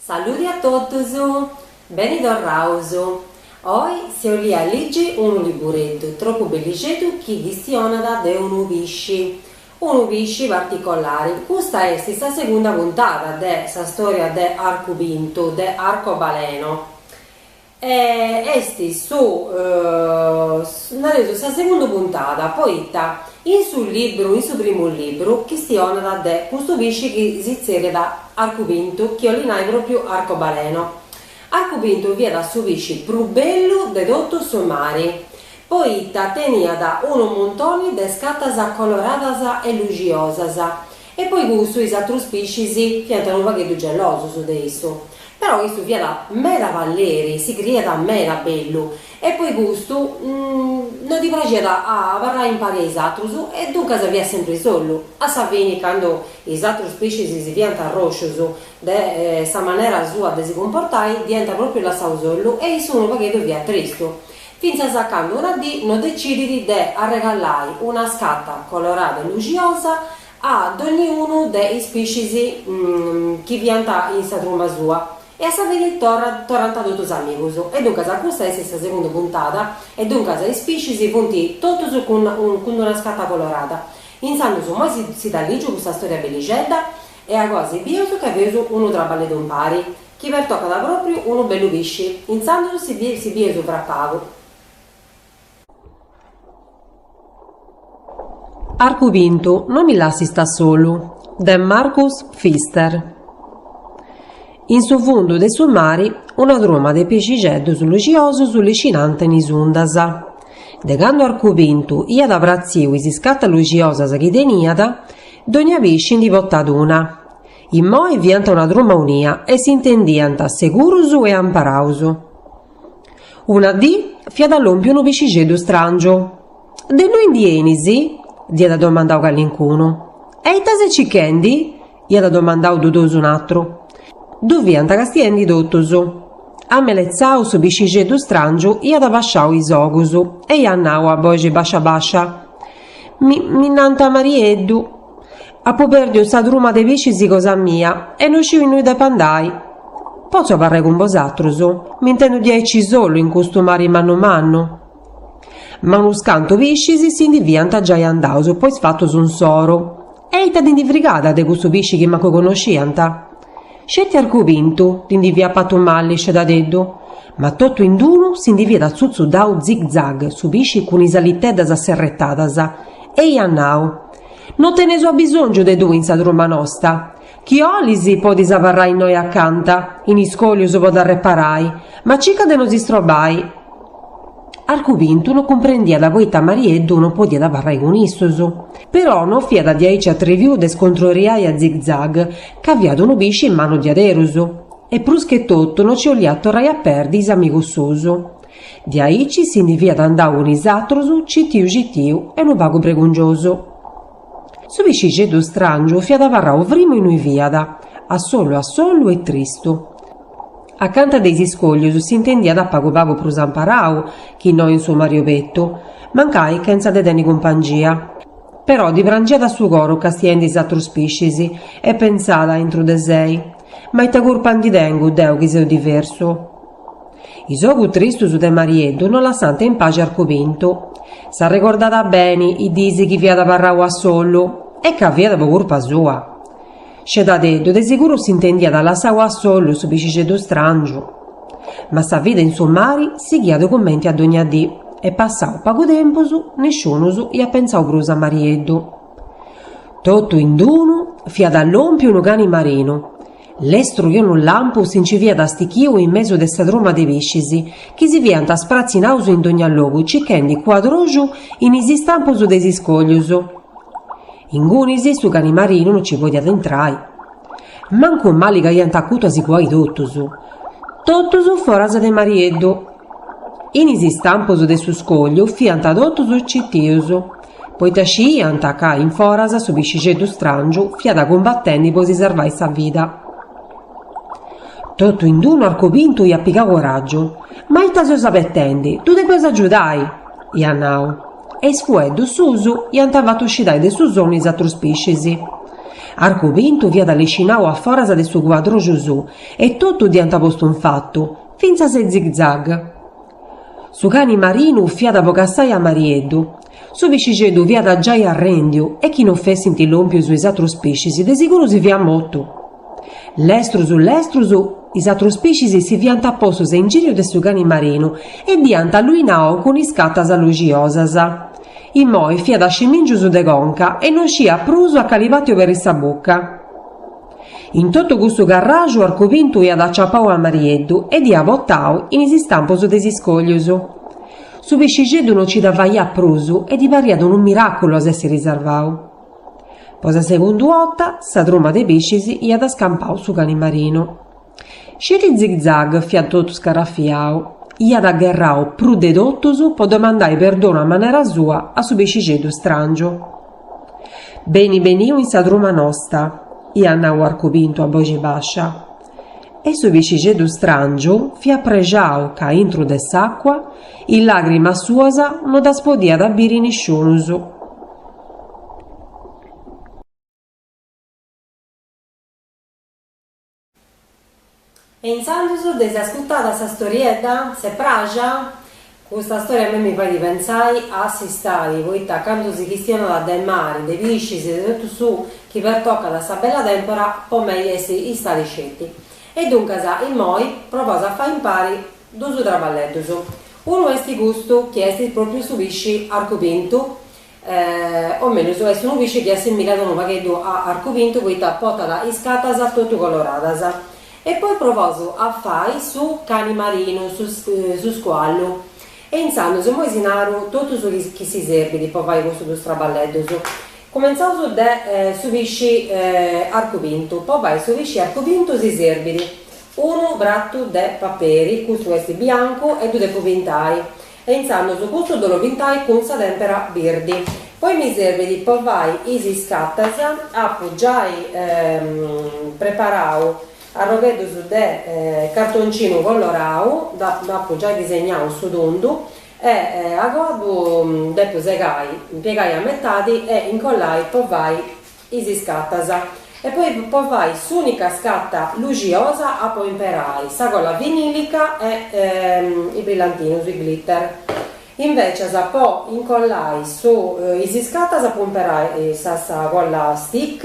Saludi a totus! Beni torraus! Oi si 'olia ligi unu libureddu tropu bellixeddu chi chistionat de unu pisci, unu pisci particolari. Custa est sa segunda puntada de sa storia de Arcu Pintu, de Arcobaleno. E est su nareus sa segunda puntada poita in su libru in su primu libru chistionat de custu pisci chi si tzerriat Arcu Pintu chi 'olit nai propriu arcobaleno Arcu Pintu fiat su pisci prus bellu de totu su mari poita teniat unu muntoni de iscatas coloradas e luxiosas E po i custu is atrus piscis fiant unu pagheddu gelosus de issu. Però issu fiat meda palleri, si criiat meda bellu e po i custu no ddi praxiat a abarrai impari a is atrus e duncas fiat sempri sollu. A sa fini candu is atrus piscis si fiant arroscius de sa manera sua de si cumportai dd'iant propriu lassau sollu e issu unu pagheddu fiat tristu. fintzas a candu una dì no decidit de arregallai una scata colorada e luxiosa a dogniunu de is piscis chi fiant in sa truma sua e a sa fini torrat torrant totus amigus e duncas custa est sa segunda puntada e duncas is piscis funt totus cun cun d'una scata colorada intzandus immoi si dda ligiu custa storia bellixedda e agoa si bius ca feus unu traballeddu impari. Chi pertocat pròpriu unu bellu pisci. Intzandus si si bieus fra pagu. Arcu pintu, no mi lassist a solu. De Marcus Pfister. In su fundu de su mari una truma de pixixeddus luxiosus liscinant in is undas. De candu Arcu Pintu iat pratziu is iscatas luxiosas chi teniat, dònnia pisci ndi potat una. Immoi fiant una truma unia e s'intendiant segurus e amparaus. Una dì fiat lòmpiu unu pixixeddu stràngiu. De innui ndi 'enis? dd'iat domandau calincunu. E ita ses cichendi? iat domandau dudosu un'atru. Ddu fiant castiendi totus. Ameletzau su pixixeddu stràngiu iat basciau is ogus e iat nau a boxi bascia bascia, Mi mi nant Marieddu. Apu pèrdiu sa truma de piscis cosa mia e no sciu innui depu andai. Potzu abarrai cun bosatrus? M'intendu diaici solu in custu mari mannu mannu? Ma unus cantu piscis si ndi fiant giai andaus po is fatus insoru e ita ddi ndi frigat de custu pisci chi mancu connosciant? Sceti arcu pintu ddi ndi fiat patu malli scedadeddu, ma totu in d'unu si ndi fiat atzutzudau zig zag su pisci cun is aliteddas serretadas e iat nau, No teneus abisòngiu de tui in sa truma nosta. Chi 'olis podis abarrai innoi acanta, in is iscòlius po t'arreparai, ma circa de no si strobai. Arcupintu no cumprendiat poita Marieddu no podiat abarrai cun issos. Però no fiat diaici atriviu de scontroriai a zig-zag, ca fiat unu pisci mannu diaderus. E prus che totu no ci 'oliat torrai a perdi is amigus suus. De aici si ndi fiat andau cun is atrus citiu citiu e unu pagu pregungiosu. Su piscixeddu strangiu fiat abarrau frimu innui fiat, a solu a solu e tristu. Acanta de is iscoglius s'intendiat pagu pagu prus amparau chi no in su mari opetu, mancai chentza de tenni cumpangia. Però ddi prangiat su coru castiendi is atrus piscis e pentzàt, intru de sei, Ma ita curpa ndi tengu deu chi seu diversu? Is ogus tristus de Marieddu no lassànt in paxi Arcupintu. S'arregordàt beni is diis chi fiat abarrau a solu, e ca fiat po curpa sua. Scedadeddu de siguru s'intendiat lassau a solu su piscixeddu stràngiu. Ma sa vida in su mari sighiat cumenti a dogna dì, e passau pagu tempus, nisciunus iat pentzau prus a Marieddu. Totu in d-unu fiat lòmpiu unu cani marinu. Lestru chi unu lampu si nci fiat stichiu in mesu de sa truma de piscis, chi si fiant spratzinaus in dogna logu cichendi cuadroxu in is istampus de is iscoglius. Ingunis su cani marinu no nci podiat intrai. Mancu mali ca iant acutu a si cuai totus. Totus foras de Marieddu. In is istampus de su scogliu fiant totus citius. poita sciiant ca in foras su piscixeddu stràngiu fiat cumbatendi po si sarvai sa vida. Totu in d-unu Arcupintu iat pigau coràgiu. Ma ita seus abetendi? Ddu depeus agiudai! iat nau. E is fueddus suus iant fatu scidai de su sonnu is atrus piscis. Arcupintu fiat liscinau a foras de su cuadroxu suu e totus dd'iant postu infatu, fintzas e zig-zag. Su cani marinu fiat po cassai a Marieddu. Su piscixeddu fiat giai arrèndiu e chi non fessint lòmpius is atrus piscis de siguru si fiat mortu. Lestrus lestrus is atrus piscis si fiant postus a ingìriu de su cani marinu e dd'iant alluinau cun iscatas luxiosas. Imoi fiat a scimìngius de conca e non sciiat prus a cali pati oberri sa buca. In totu custu carraxu Arcupintu iat aciapau a Marieddu e dd'iat batau in is istampus de is iscòglius. Su piscixeddu no nci dda faiat prus e ddi pariat unu miràculu a s'èssiri sarvau. Po sa segundu 'ota, sa truma de piscis iat scampau su cani marinu. Sceti Zig-zag fiat totu scarrafiau, iat agherrau prus de totus po domandai perdonu a manera sua a su pixixeddu strangiu. Beni beniu in sa truma nosta, iat nau Arcupintu a boxi bàscia. E su pixixeddu strangiu fiat prexau ca intru de s'àcua is làgrimas suas no ddas podiat biri nisciunus. E intzandus dd'eis ascurtada sa storiedda? Si est pràxia? Custa storia a mei mi fait pentzai a s'istadi, poita candu si chistionat de mari, de piscis e de totu su chi pertocat a sa bella tempora, po mei est istadi sceti. E duncas, immoi, provaus a fai impari duus traballeddus. Unu est custu chi est propriu su pisci arcupintu, o mellus est unu pisci chi assimbillat unu pagheddu a Arcupintu poita potat iscatas totu coloradas. E poi provaus a fai su cani marinu, su scuallu. E intzandus immoi si naru totu su chi si serbit po fai custus duus traballeddus. Cumenzaus de su pisci Arcupintu, po fai su pisci Arcupintu si serbit unu pratu de paperi, custu est biancu e ddu depu pintai E intzandus custu ddu ollu pintai cun sa tèmpera birdi. Poi mi serbit po fai is iscatas, apu giai preparau arrogheddus de cartoncinu colorau, dd'apu giai disegnau su tundu e agoa ddu depu segai, piegai a metadi e incollai po fai is scatas e poi po fai s'unica scata luxiosa apu a imperai sa colla vinilica e i brillantinus, i glitter. Invecias po incollai su is scatas apu a imperai sa colla stick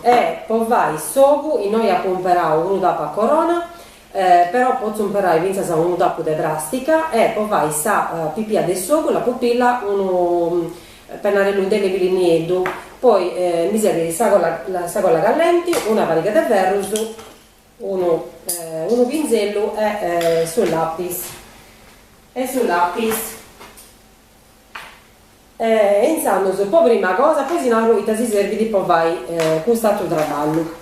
e po fai s'ogu innoi apu imperau unu tapu a corona Però potzu imperai fintzas unu tapu de pràstica e po fai sa pipia de s'ogu la pupilla unu pennarellu indelebili nieddu, poi mi serbit sa colla callenti, una pariga de ferrus, unu pinzellu e su lapis e intzandus po prima cosa poi si naru ita si serbit po fai cust'aturu traballu.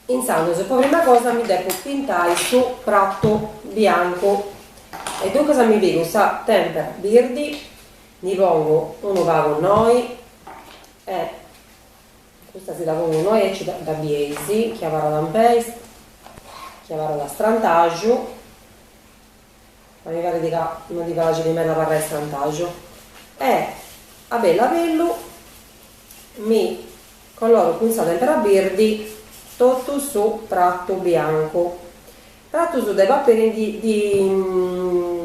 Intzandus, po prima cosa mi depu pintai su pratu biancu e duncas mi pigu sa tempera birdi, ndi pongu unu pagu innoi e custa si dda pongu innoi aici dda bieis chi abarrat in peis, chi abarrat strantaxu. Ma mi parit ca no ddi praxit meda abarrai strantaxu. E, a bellu a bellu, mi coloru cun sa tempera birdi totu su pratu biancu. Pratus de paperi ndi ndi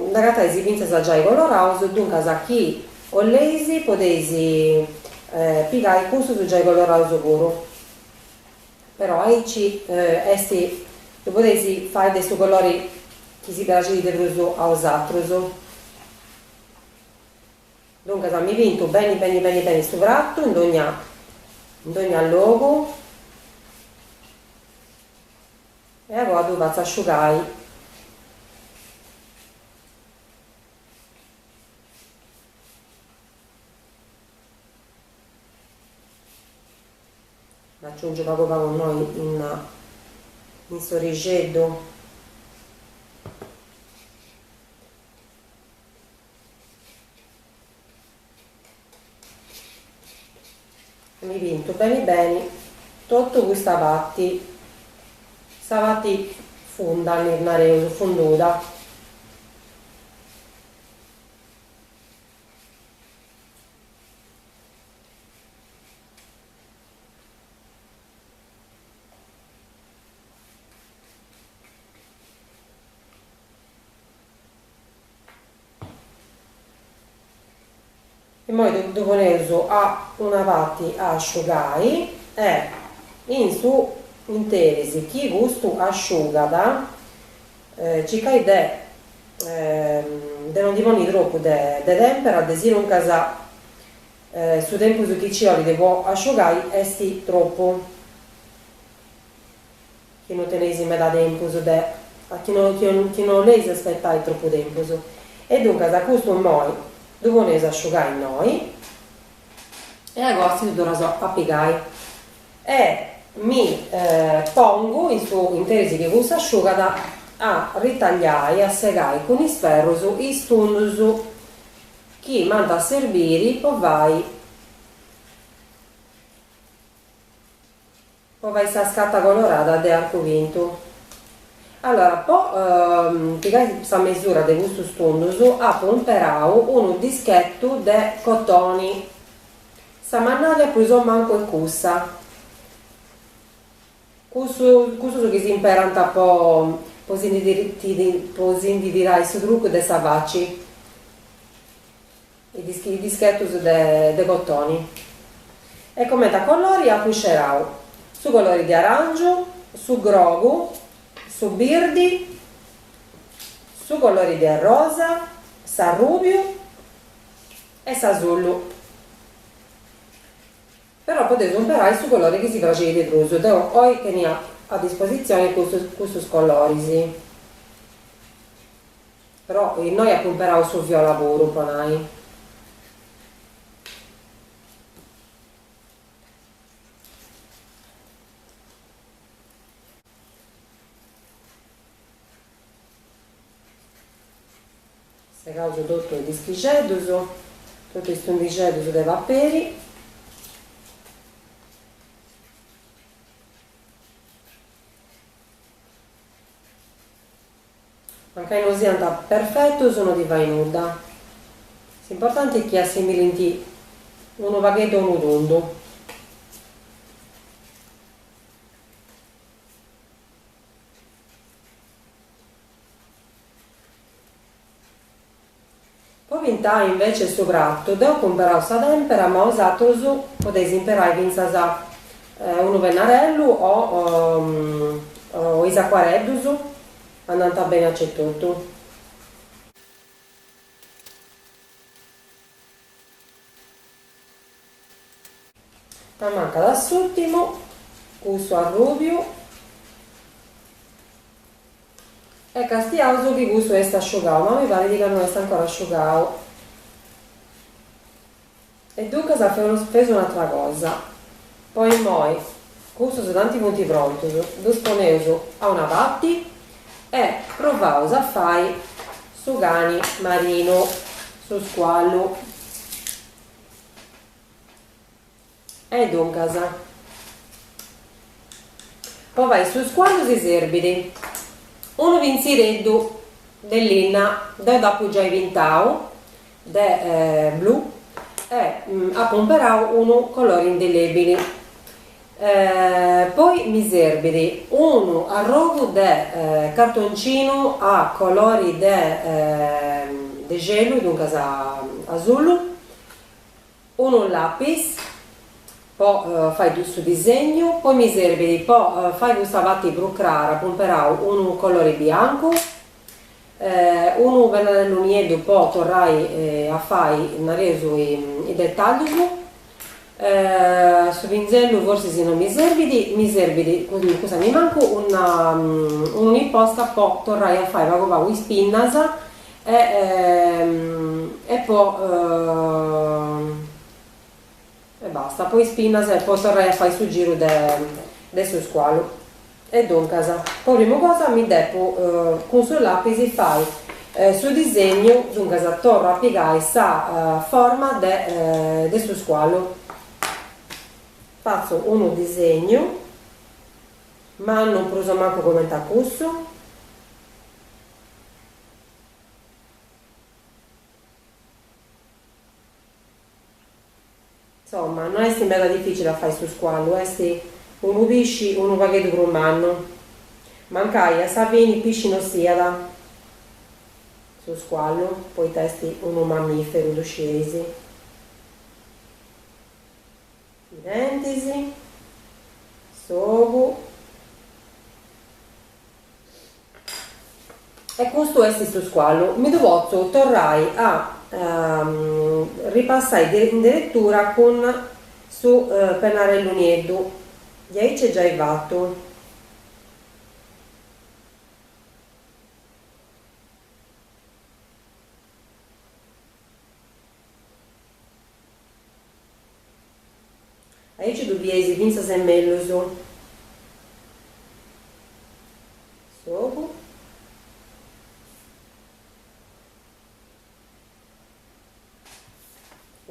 nd'agatais fintzas giai coloraus, duncas chi 'olleis podeis pigai cussus giai coloraus puru. Però aici est, ddu podeis fai de su colori chi si praxit de prus a osatrus. Duncas mi pintu beni beni beni beni su pratu in dogna in dogna logu e a poi ddu fatzu asciugai Nd'aciungiu pagu pagu innoi in in s'orixeddu. E mi pintu beni beni totu custa pati, sa pati funda ddi nareus, funduda. Immoi ddu poneus a una parti a asciugai e in su interis chi custu asciugat circai de de no ndi ponni tropu de tempera, de sinuncas Su tempus chi ci 'olit po asciugai est tropu, chi no teneis meda tempus de, chi no chi no 'oleis aspetai tropu tempus, e duncas a custu immoi ddu poneus a asciugai innoi e apustis ddu torraus a pigai e mi pongu in su interis chi cussa asciugat a ritagliai, a segai cun is ferrus is tundus. Chi m'ant a serbiri po fai po fai sa scatta colorada de Arcu Pintu. Allora po pigai sa mesura de custus tundus apu umperau unu dischettu de cotoni, sa mannaria prus o mancu est cussa, Custus chi s'imperant po si ndi tirai su trucu de sa faci, i dischetus de cotoni, e comente a colori apu scerau su colori de aràngiu, su grogu, su birdi, su colori de arrosa, s'arrùbiu e s'asullu. Però podeus imperai su colori chi si praxit de prus. Deu oi tenia a dispositzioni custus coloris. Però innoi apu imperau su viola puru, po nai. Segaus totu is dischixeddus, totu is tundixeddus de paperi. Mancai no siant perfetus no ddi fait nudda, s'importanti chi assimilint unu pagheddu a unu tundu. Po pintai invece su pratu deu apu imperau sa tempera ma osatrus podeis imperai fintzas unu pennarellu o o is acquareddus andant beni acetotu. M'ammancat s'ùrtimu, cussu arrùbiu e castiaus chi cussu est asciugau, ma mi parit ca no est ancora asciugau. E duncas feus un'atra cosa. Po immoi, cussus tanti funt prontus, ddus poneus a una parti e provaus a fai su cani marinu, su scuallu. E duncas, po fai su scuallu si serbit unu pintzixeddu de linna, deu dd'apu giai pintau de blu e apu imperau unu colori indelebili poi mi serbit unu arrogu de cartoncinu a colori de celu duncas asullu Unu lapis po fai cussu disegnu, poi mi serbit po fai custa parti prus crara, apu imperau unu colori biancu, unu pennarellu nieddu po torrai a fai, nareus, is detaglius, su pinzellu forsis non mi serbit, mi serbit, cussa nimancu, unu posca po torrai a fai pagu pagu is pinnas E e po e basta po is pinnas e po torrai a fai su giru de de su scualu e duncas po prima cosa mi depu cun su lapis fai su disegnu duncas torru a pigai sa forma de de su scualu fatzu unu disegnu mannu prus o mancu coment'a cussu Insomma, no est meda dificile a fai su scuallu, est unu pisci unu pagheddu prus mannu. Mancai a sa fini pisci no siat su scuallu, poita est unu mammiferu, ddu scieis. I dentis, s'ogu. E custu est su scuallu. Mi ddu potzu torrai a ripassai in deretura cun su pennarellu nieddu. Diaici giai fattu. Aici ddu bieis fintzas e mellus s'ogu.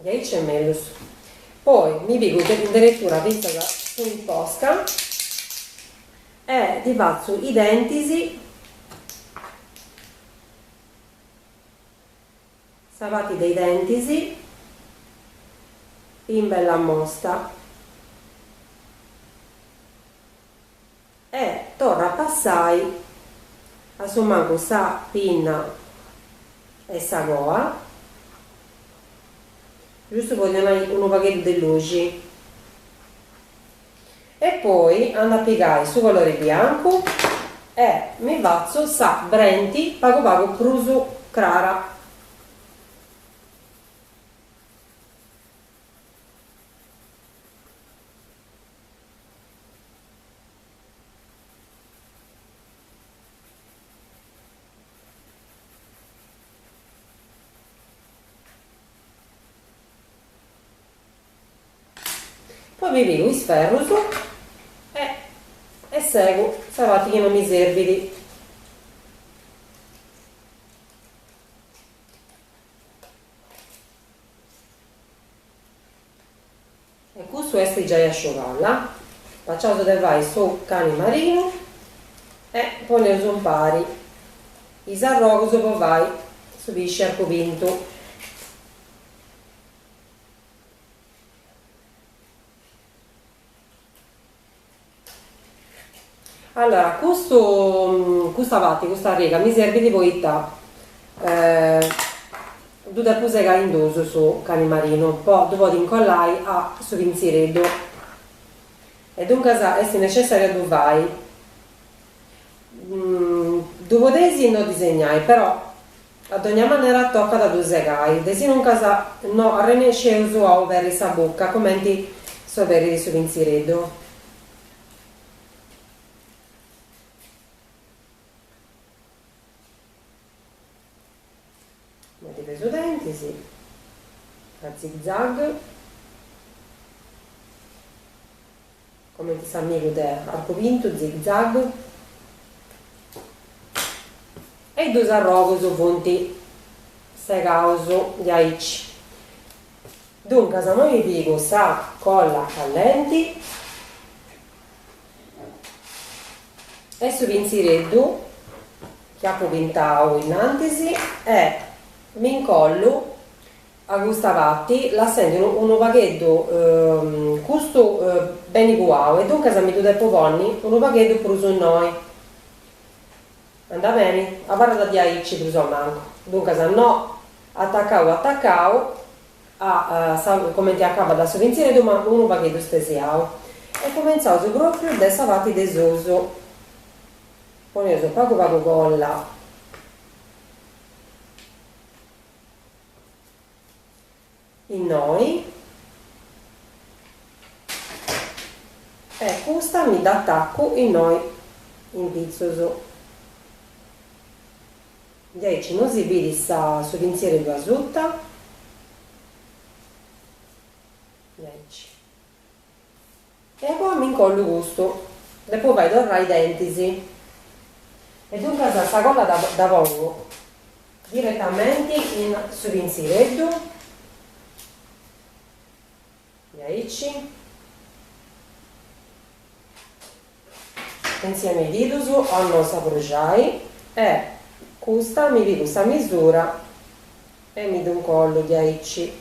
Diaici e mellus. Poi mi pigu deretura fintzas su posca e ddi fatzu i dentis. Sa pati de i dentis in bella mosta e torru a passai a su mancu sa pinna e sa coa giustu po ddi donai unu pagheddu de luxi. E poi andu a pigai su colori biancu e mi fatzu sa brenti pagu pagu prus crara. Poi mi pigu is ferrus e e segu sa parti chi no mi serbit. E cussu est giai asciugada. Acabaus de fai su cani marinu e poneus impari is arrogus po fai su pisci Arcu Pintu. Allora custu custa parti custa riga mi serbit poita ddu depu segai in duus su cani marinu po ddu podi incollai a su pintzireddu e duncas est necessariu a ddu fai ddu podeis no disegnai però A dogna manera tocat a ddu segai, desinuncas no arrennesceus a oberi sa buca comenti s'oberit su pintzireddu. Ddi pesu dentis, a zig zag. Comenti s'amigu de Arcu Pintu, Zig Zag. E is dus arrogus funt segaus diaici. Duncas amoi pigu sa colla callenti e su pintzireddu chi apu pintau innantis e m'incollu A custa parti lassendi unu pagheddu custu beni cuau e duncas mi ddu depu ponni unu pagheddu prus innoi. Andat beni? Abarrat diaici prus a mancu. Duncas no, atacau atacau a sa cumenti acabat su pintzireddu ma unu pagheddu stesiau. E cumintzaus pròpriu de sa parti de susu. Poneus pagu pagu colla. Innoi e custa mi dd'atacu innoi in pitzus. Diaici non si bidit sa su pintzireddu asuta? Diaici. E poi m'incollu custu, depo fai torrai is dentis. E duncas sa cola dda pongu diretamenti in su pinzireddu, diaici, insieme i didus a no s'abruxai e custa mi pigu sa misura e mi ddu incollu diaici.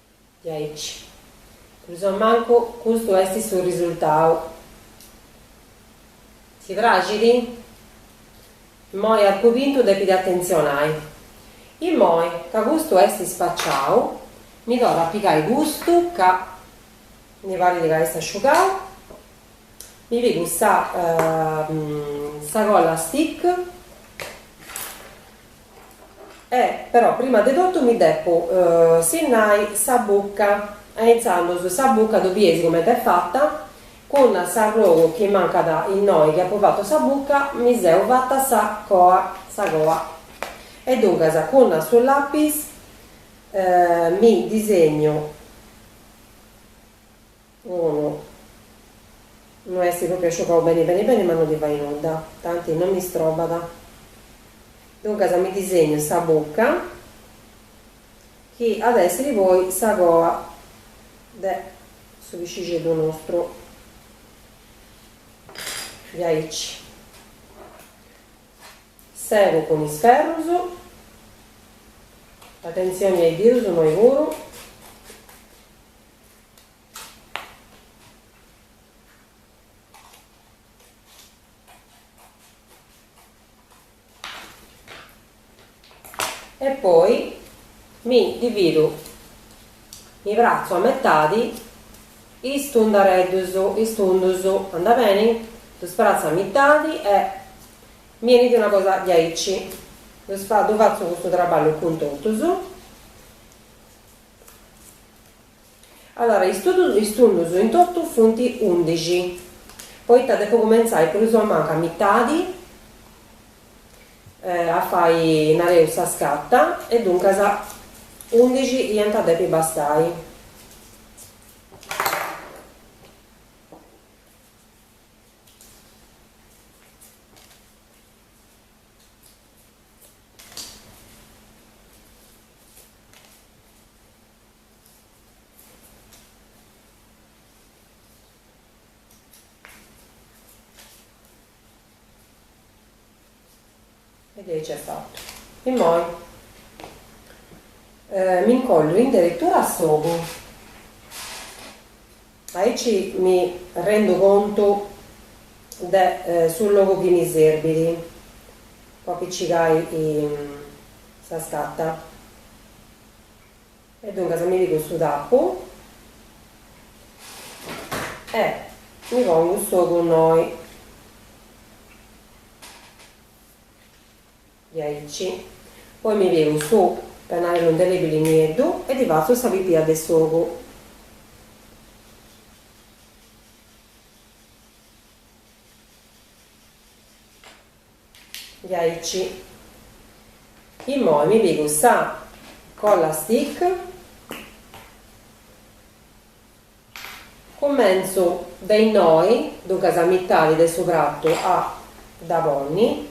Diaici. Prus o mancu custu est su risultau. Si praxit? Immoi Arcu Pintu depit atentzionai. Immoi ca custu est ispaciau, mi torru a pigai custu ca mi parit ca est asciugau, mi pigu sa colla stick. E però prima de totu mi depo sinnai sa bucca e intzandus sa bucca ddu bieis comente est fata cun s'arrogu chi mancat innoi chi apo fatu sa bucca mi seu fata sa sa coa e duncas cun su lapis mi disegnu Unu no est pròpriu asciugau beni beni beni ma no ddi fait nudda, tanti no mi strobat. Duncas mi disegnu sa bucca chi at a èssiri poi sa coa de su piscixeddu nostru diaici. Segu cun is ferrus, atentzioni a is dirus innoi puru. e poi mi dividu mi pratzu a metadi is tundareddus is tundus anda beni ddus pratzu a mitadi e mi enit una cosa diaici ddu fatzu custu traballu cun totus Allora, is tundus in totu funt undixi, poita depu cumentzai prus o mancu a mitadi a fai, nareus, sa scata, e duncas undixi iant a depi bastai. E ddu est giai fatu. Immoi m'incollu in deretura a s'ogu. Aici mi rendu contu de su logu chi mi serbit po apicigai sa scata. E duncas mi pigu su tappu e mi pongu s'ogu innoi, diaici, poi mi pigu su pennarellu indelebili nieddu e ddi fatzu sa pipia de s'ogu. Diaici. Immoi mi pigu sa colla stick cummentzu de innoi, duncas a mitadi de su pratu a dda ponni,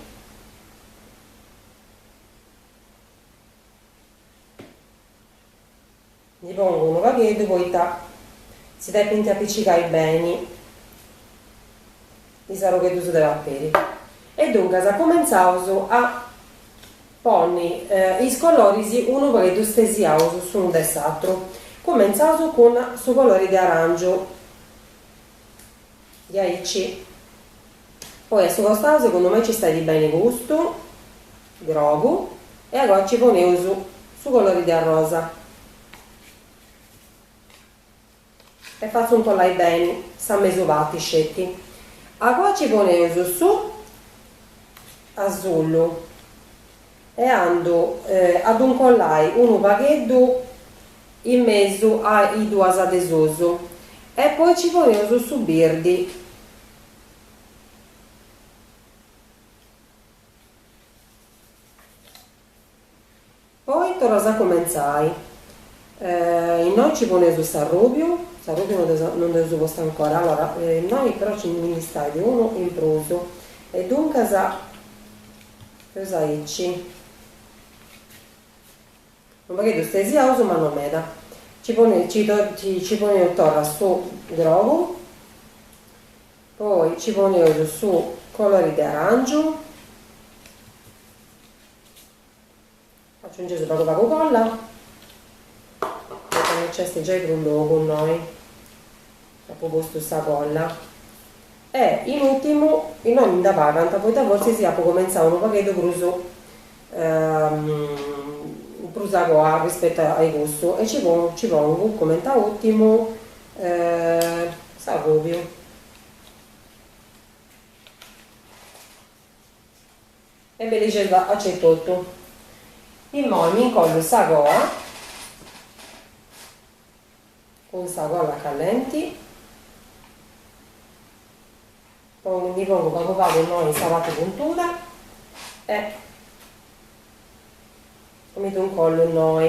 Ndi pongu unu pagheddu poita si depint apicigai beni is arrogheddus de paperi. E duncas cumentzaus a ponni is coloris unu pagheddu stesiaus s'unu de s'atru. Cumentzaus cun su colori de arangiu, diaici. Poi a su costau segundu mei nci stait beni custu. Grogu, e agoa ci poneus su colori de arrosa e fatzu incollai beni sa mesu parti sceti, agoa ci poneus su asullu e andu a ddu incollai unu pagheddu in mesu a is duas de sus e poi ci poneus su birdi. Poi torraus a cumentzai. Innoi nci poneus s'arrùbiu, s'arrùbiu non dd'eus postu ancora, allora innoi però nci nd'istait unu in prus e duncas eus aici unu pagheddu stesiaus ma non meda, nci poneus torra su grogu Poi nci poneus su colori de arangiu, aciungeus pagu pagu colla, poita no nci est giai prus logu innui apu postu sa colla, e in ultimu innoi mi nd'ammancant poita fortzis apu comentzau unu pagheddu prus prus a coa arrispetu a ai cussu e ci ci pongu comente a ùrtimu s'agòbiu. E bi lixesu acetotu. Immoi mi incollu sa coa Cun sa colla callenti. Puru ndi pongu pagu pagu innoi in sa parti puntuda e mi ddu ncollu innoi.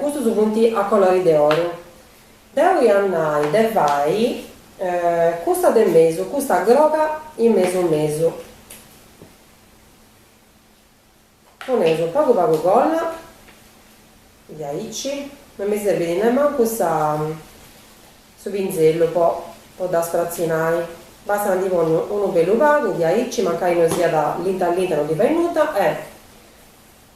Custus funt a colori de oru. Deu ia a nai de fai cussa de mesu, cussa groga in mesu mesu. Poneus unu pagu pagu colla diaici, non mi serbit nemancu sa su pinzellu po po ddas fratzinai, bastat ndi ponni unu bellu pagu diaici, mancai non siat linta linta no ddi fait nudda e.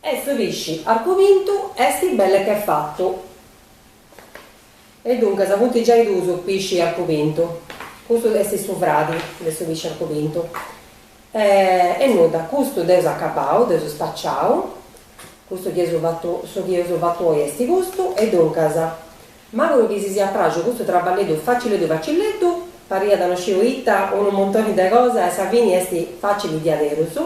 E su pisci arcu pintu esti belle che fattu. E duncas funti giai dus pisci arcu pintu. Custu esti su fradi de su pisci arcu pintu. E e nudda, custu dd'eus acabau, dd'eus spaciau. Custu chi eus fattu, su chi eus fattu oi esti custu e duncas. M'auguru chi si siat praxu custu traballeddu facilleddu facilleddu, pariat no sciu ita, unu montoni de cosa e sa fini est facili diaderus,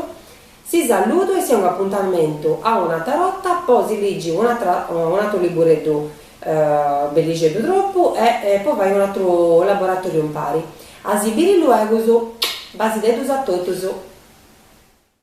si saludu e si 'ongu apuntamentu a un'atra 'orta po si ligi un'atra un'atru libureddu bellixeddu tropu e po fai un'atru laboratoriu impari. A si biri luegus. Basideddus a totus.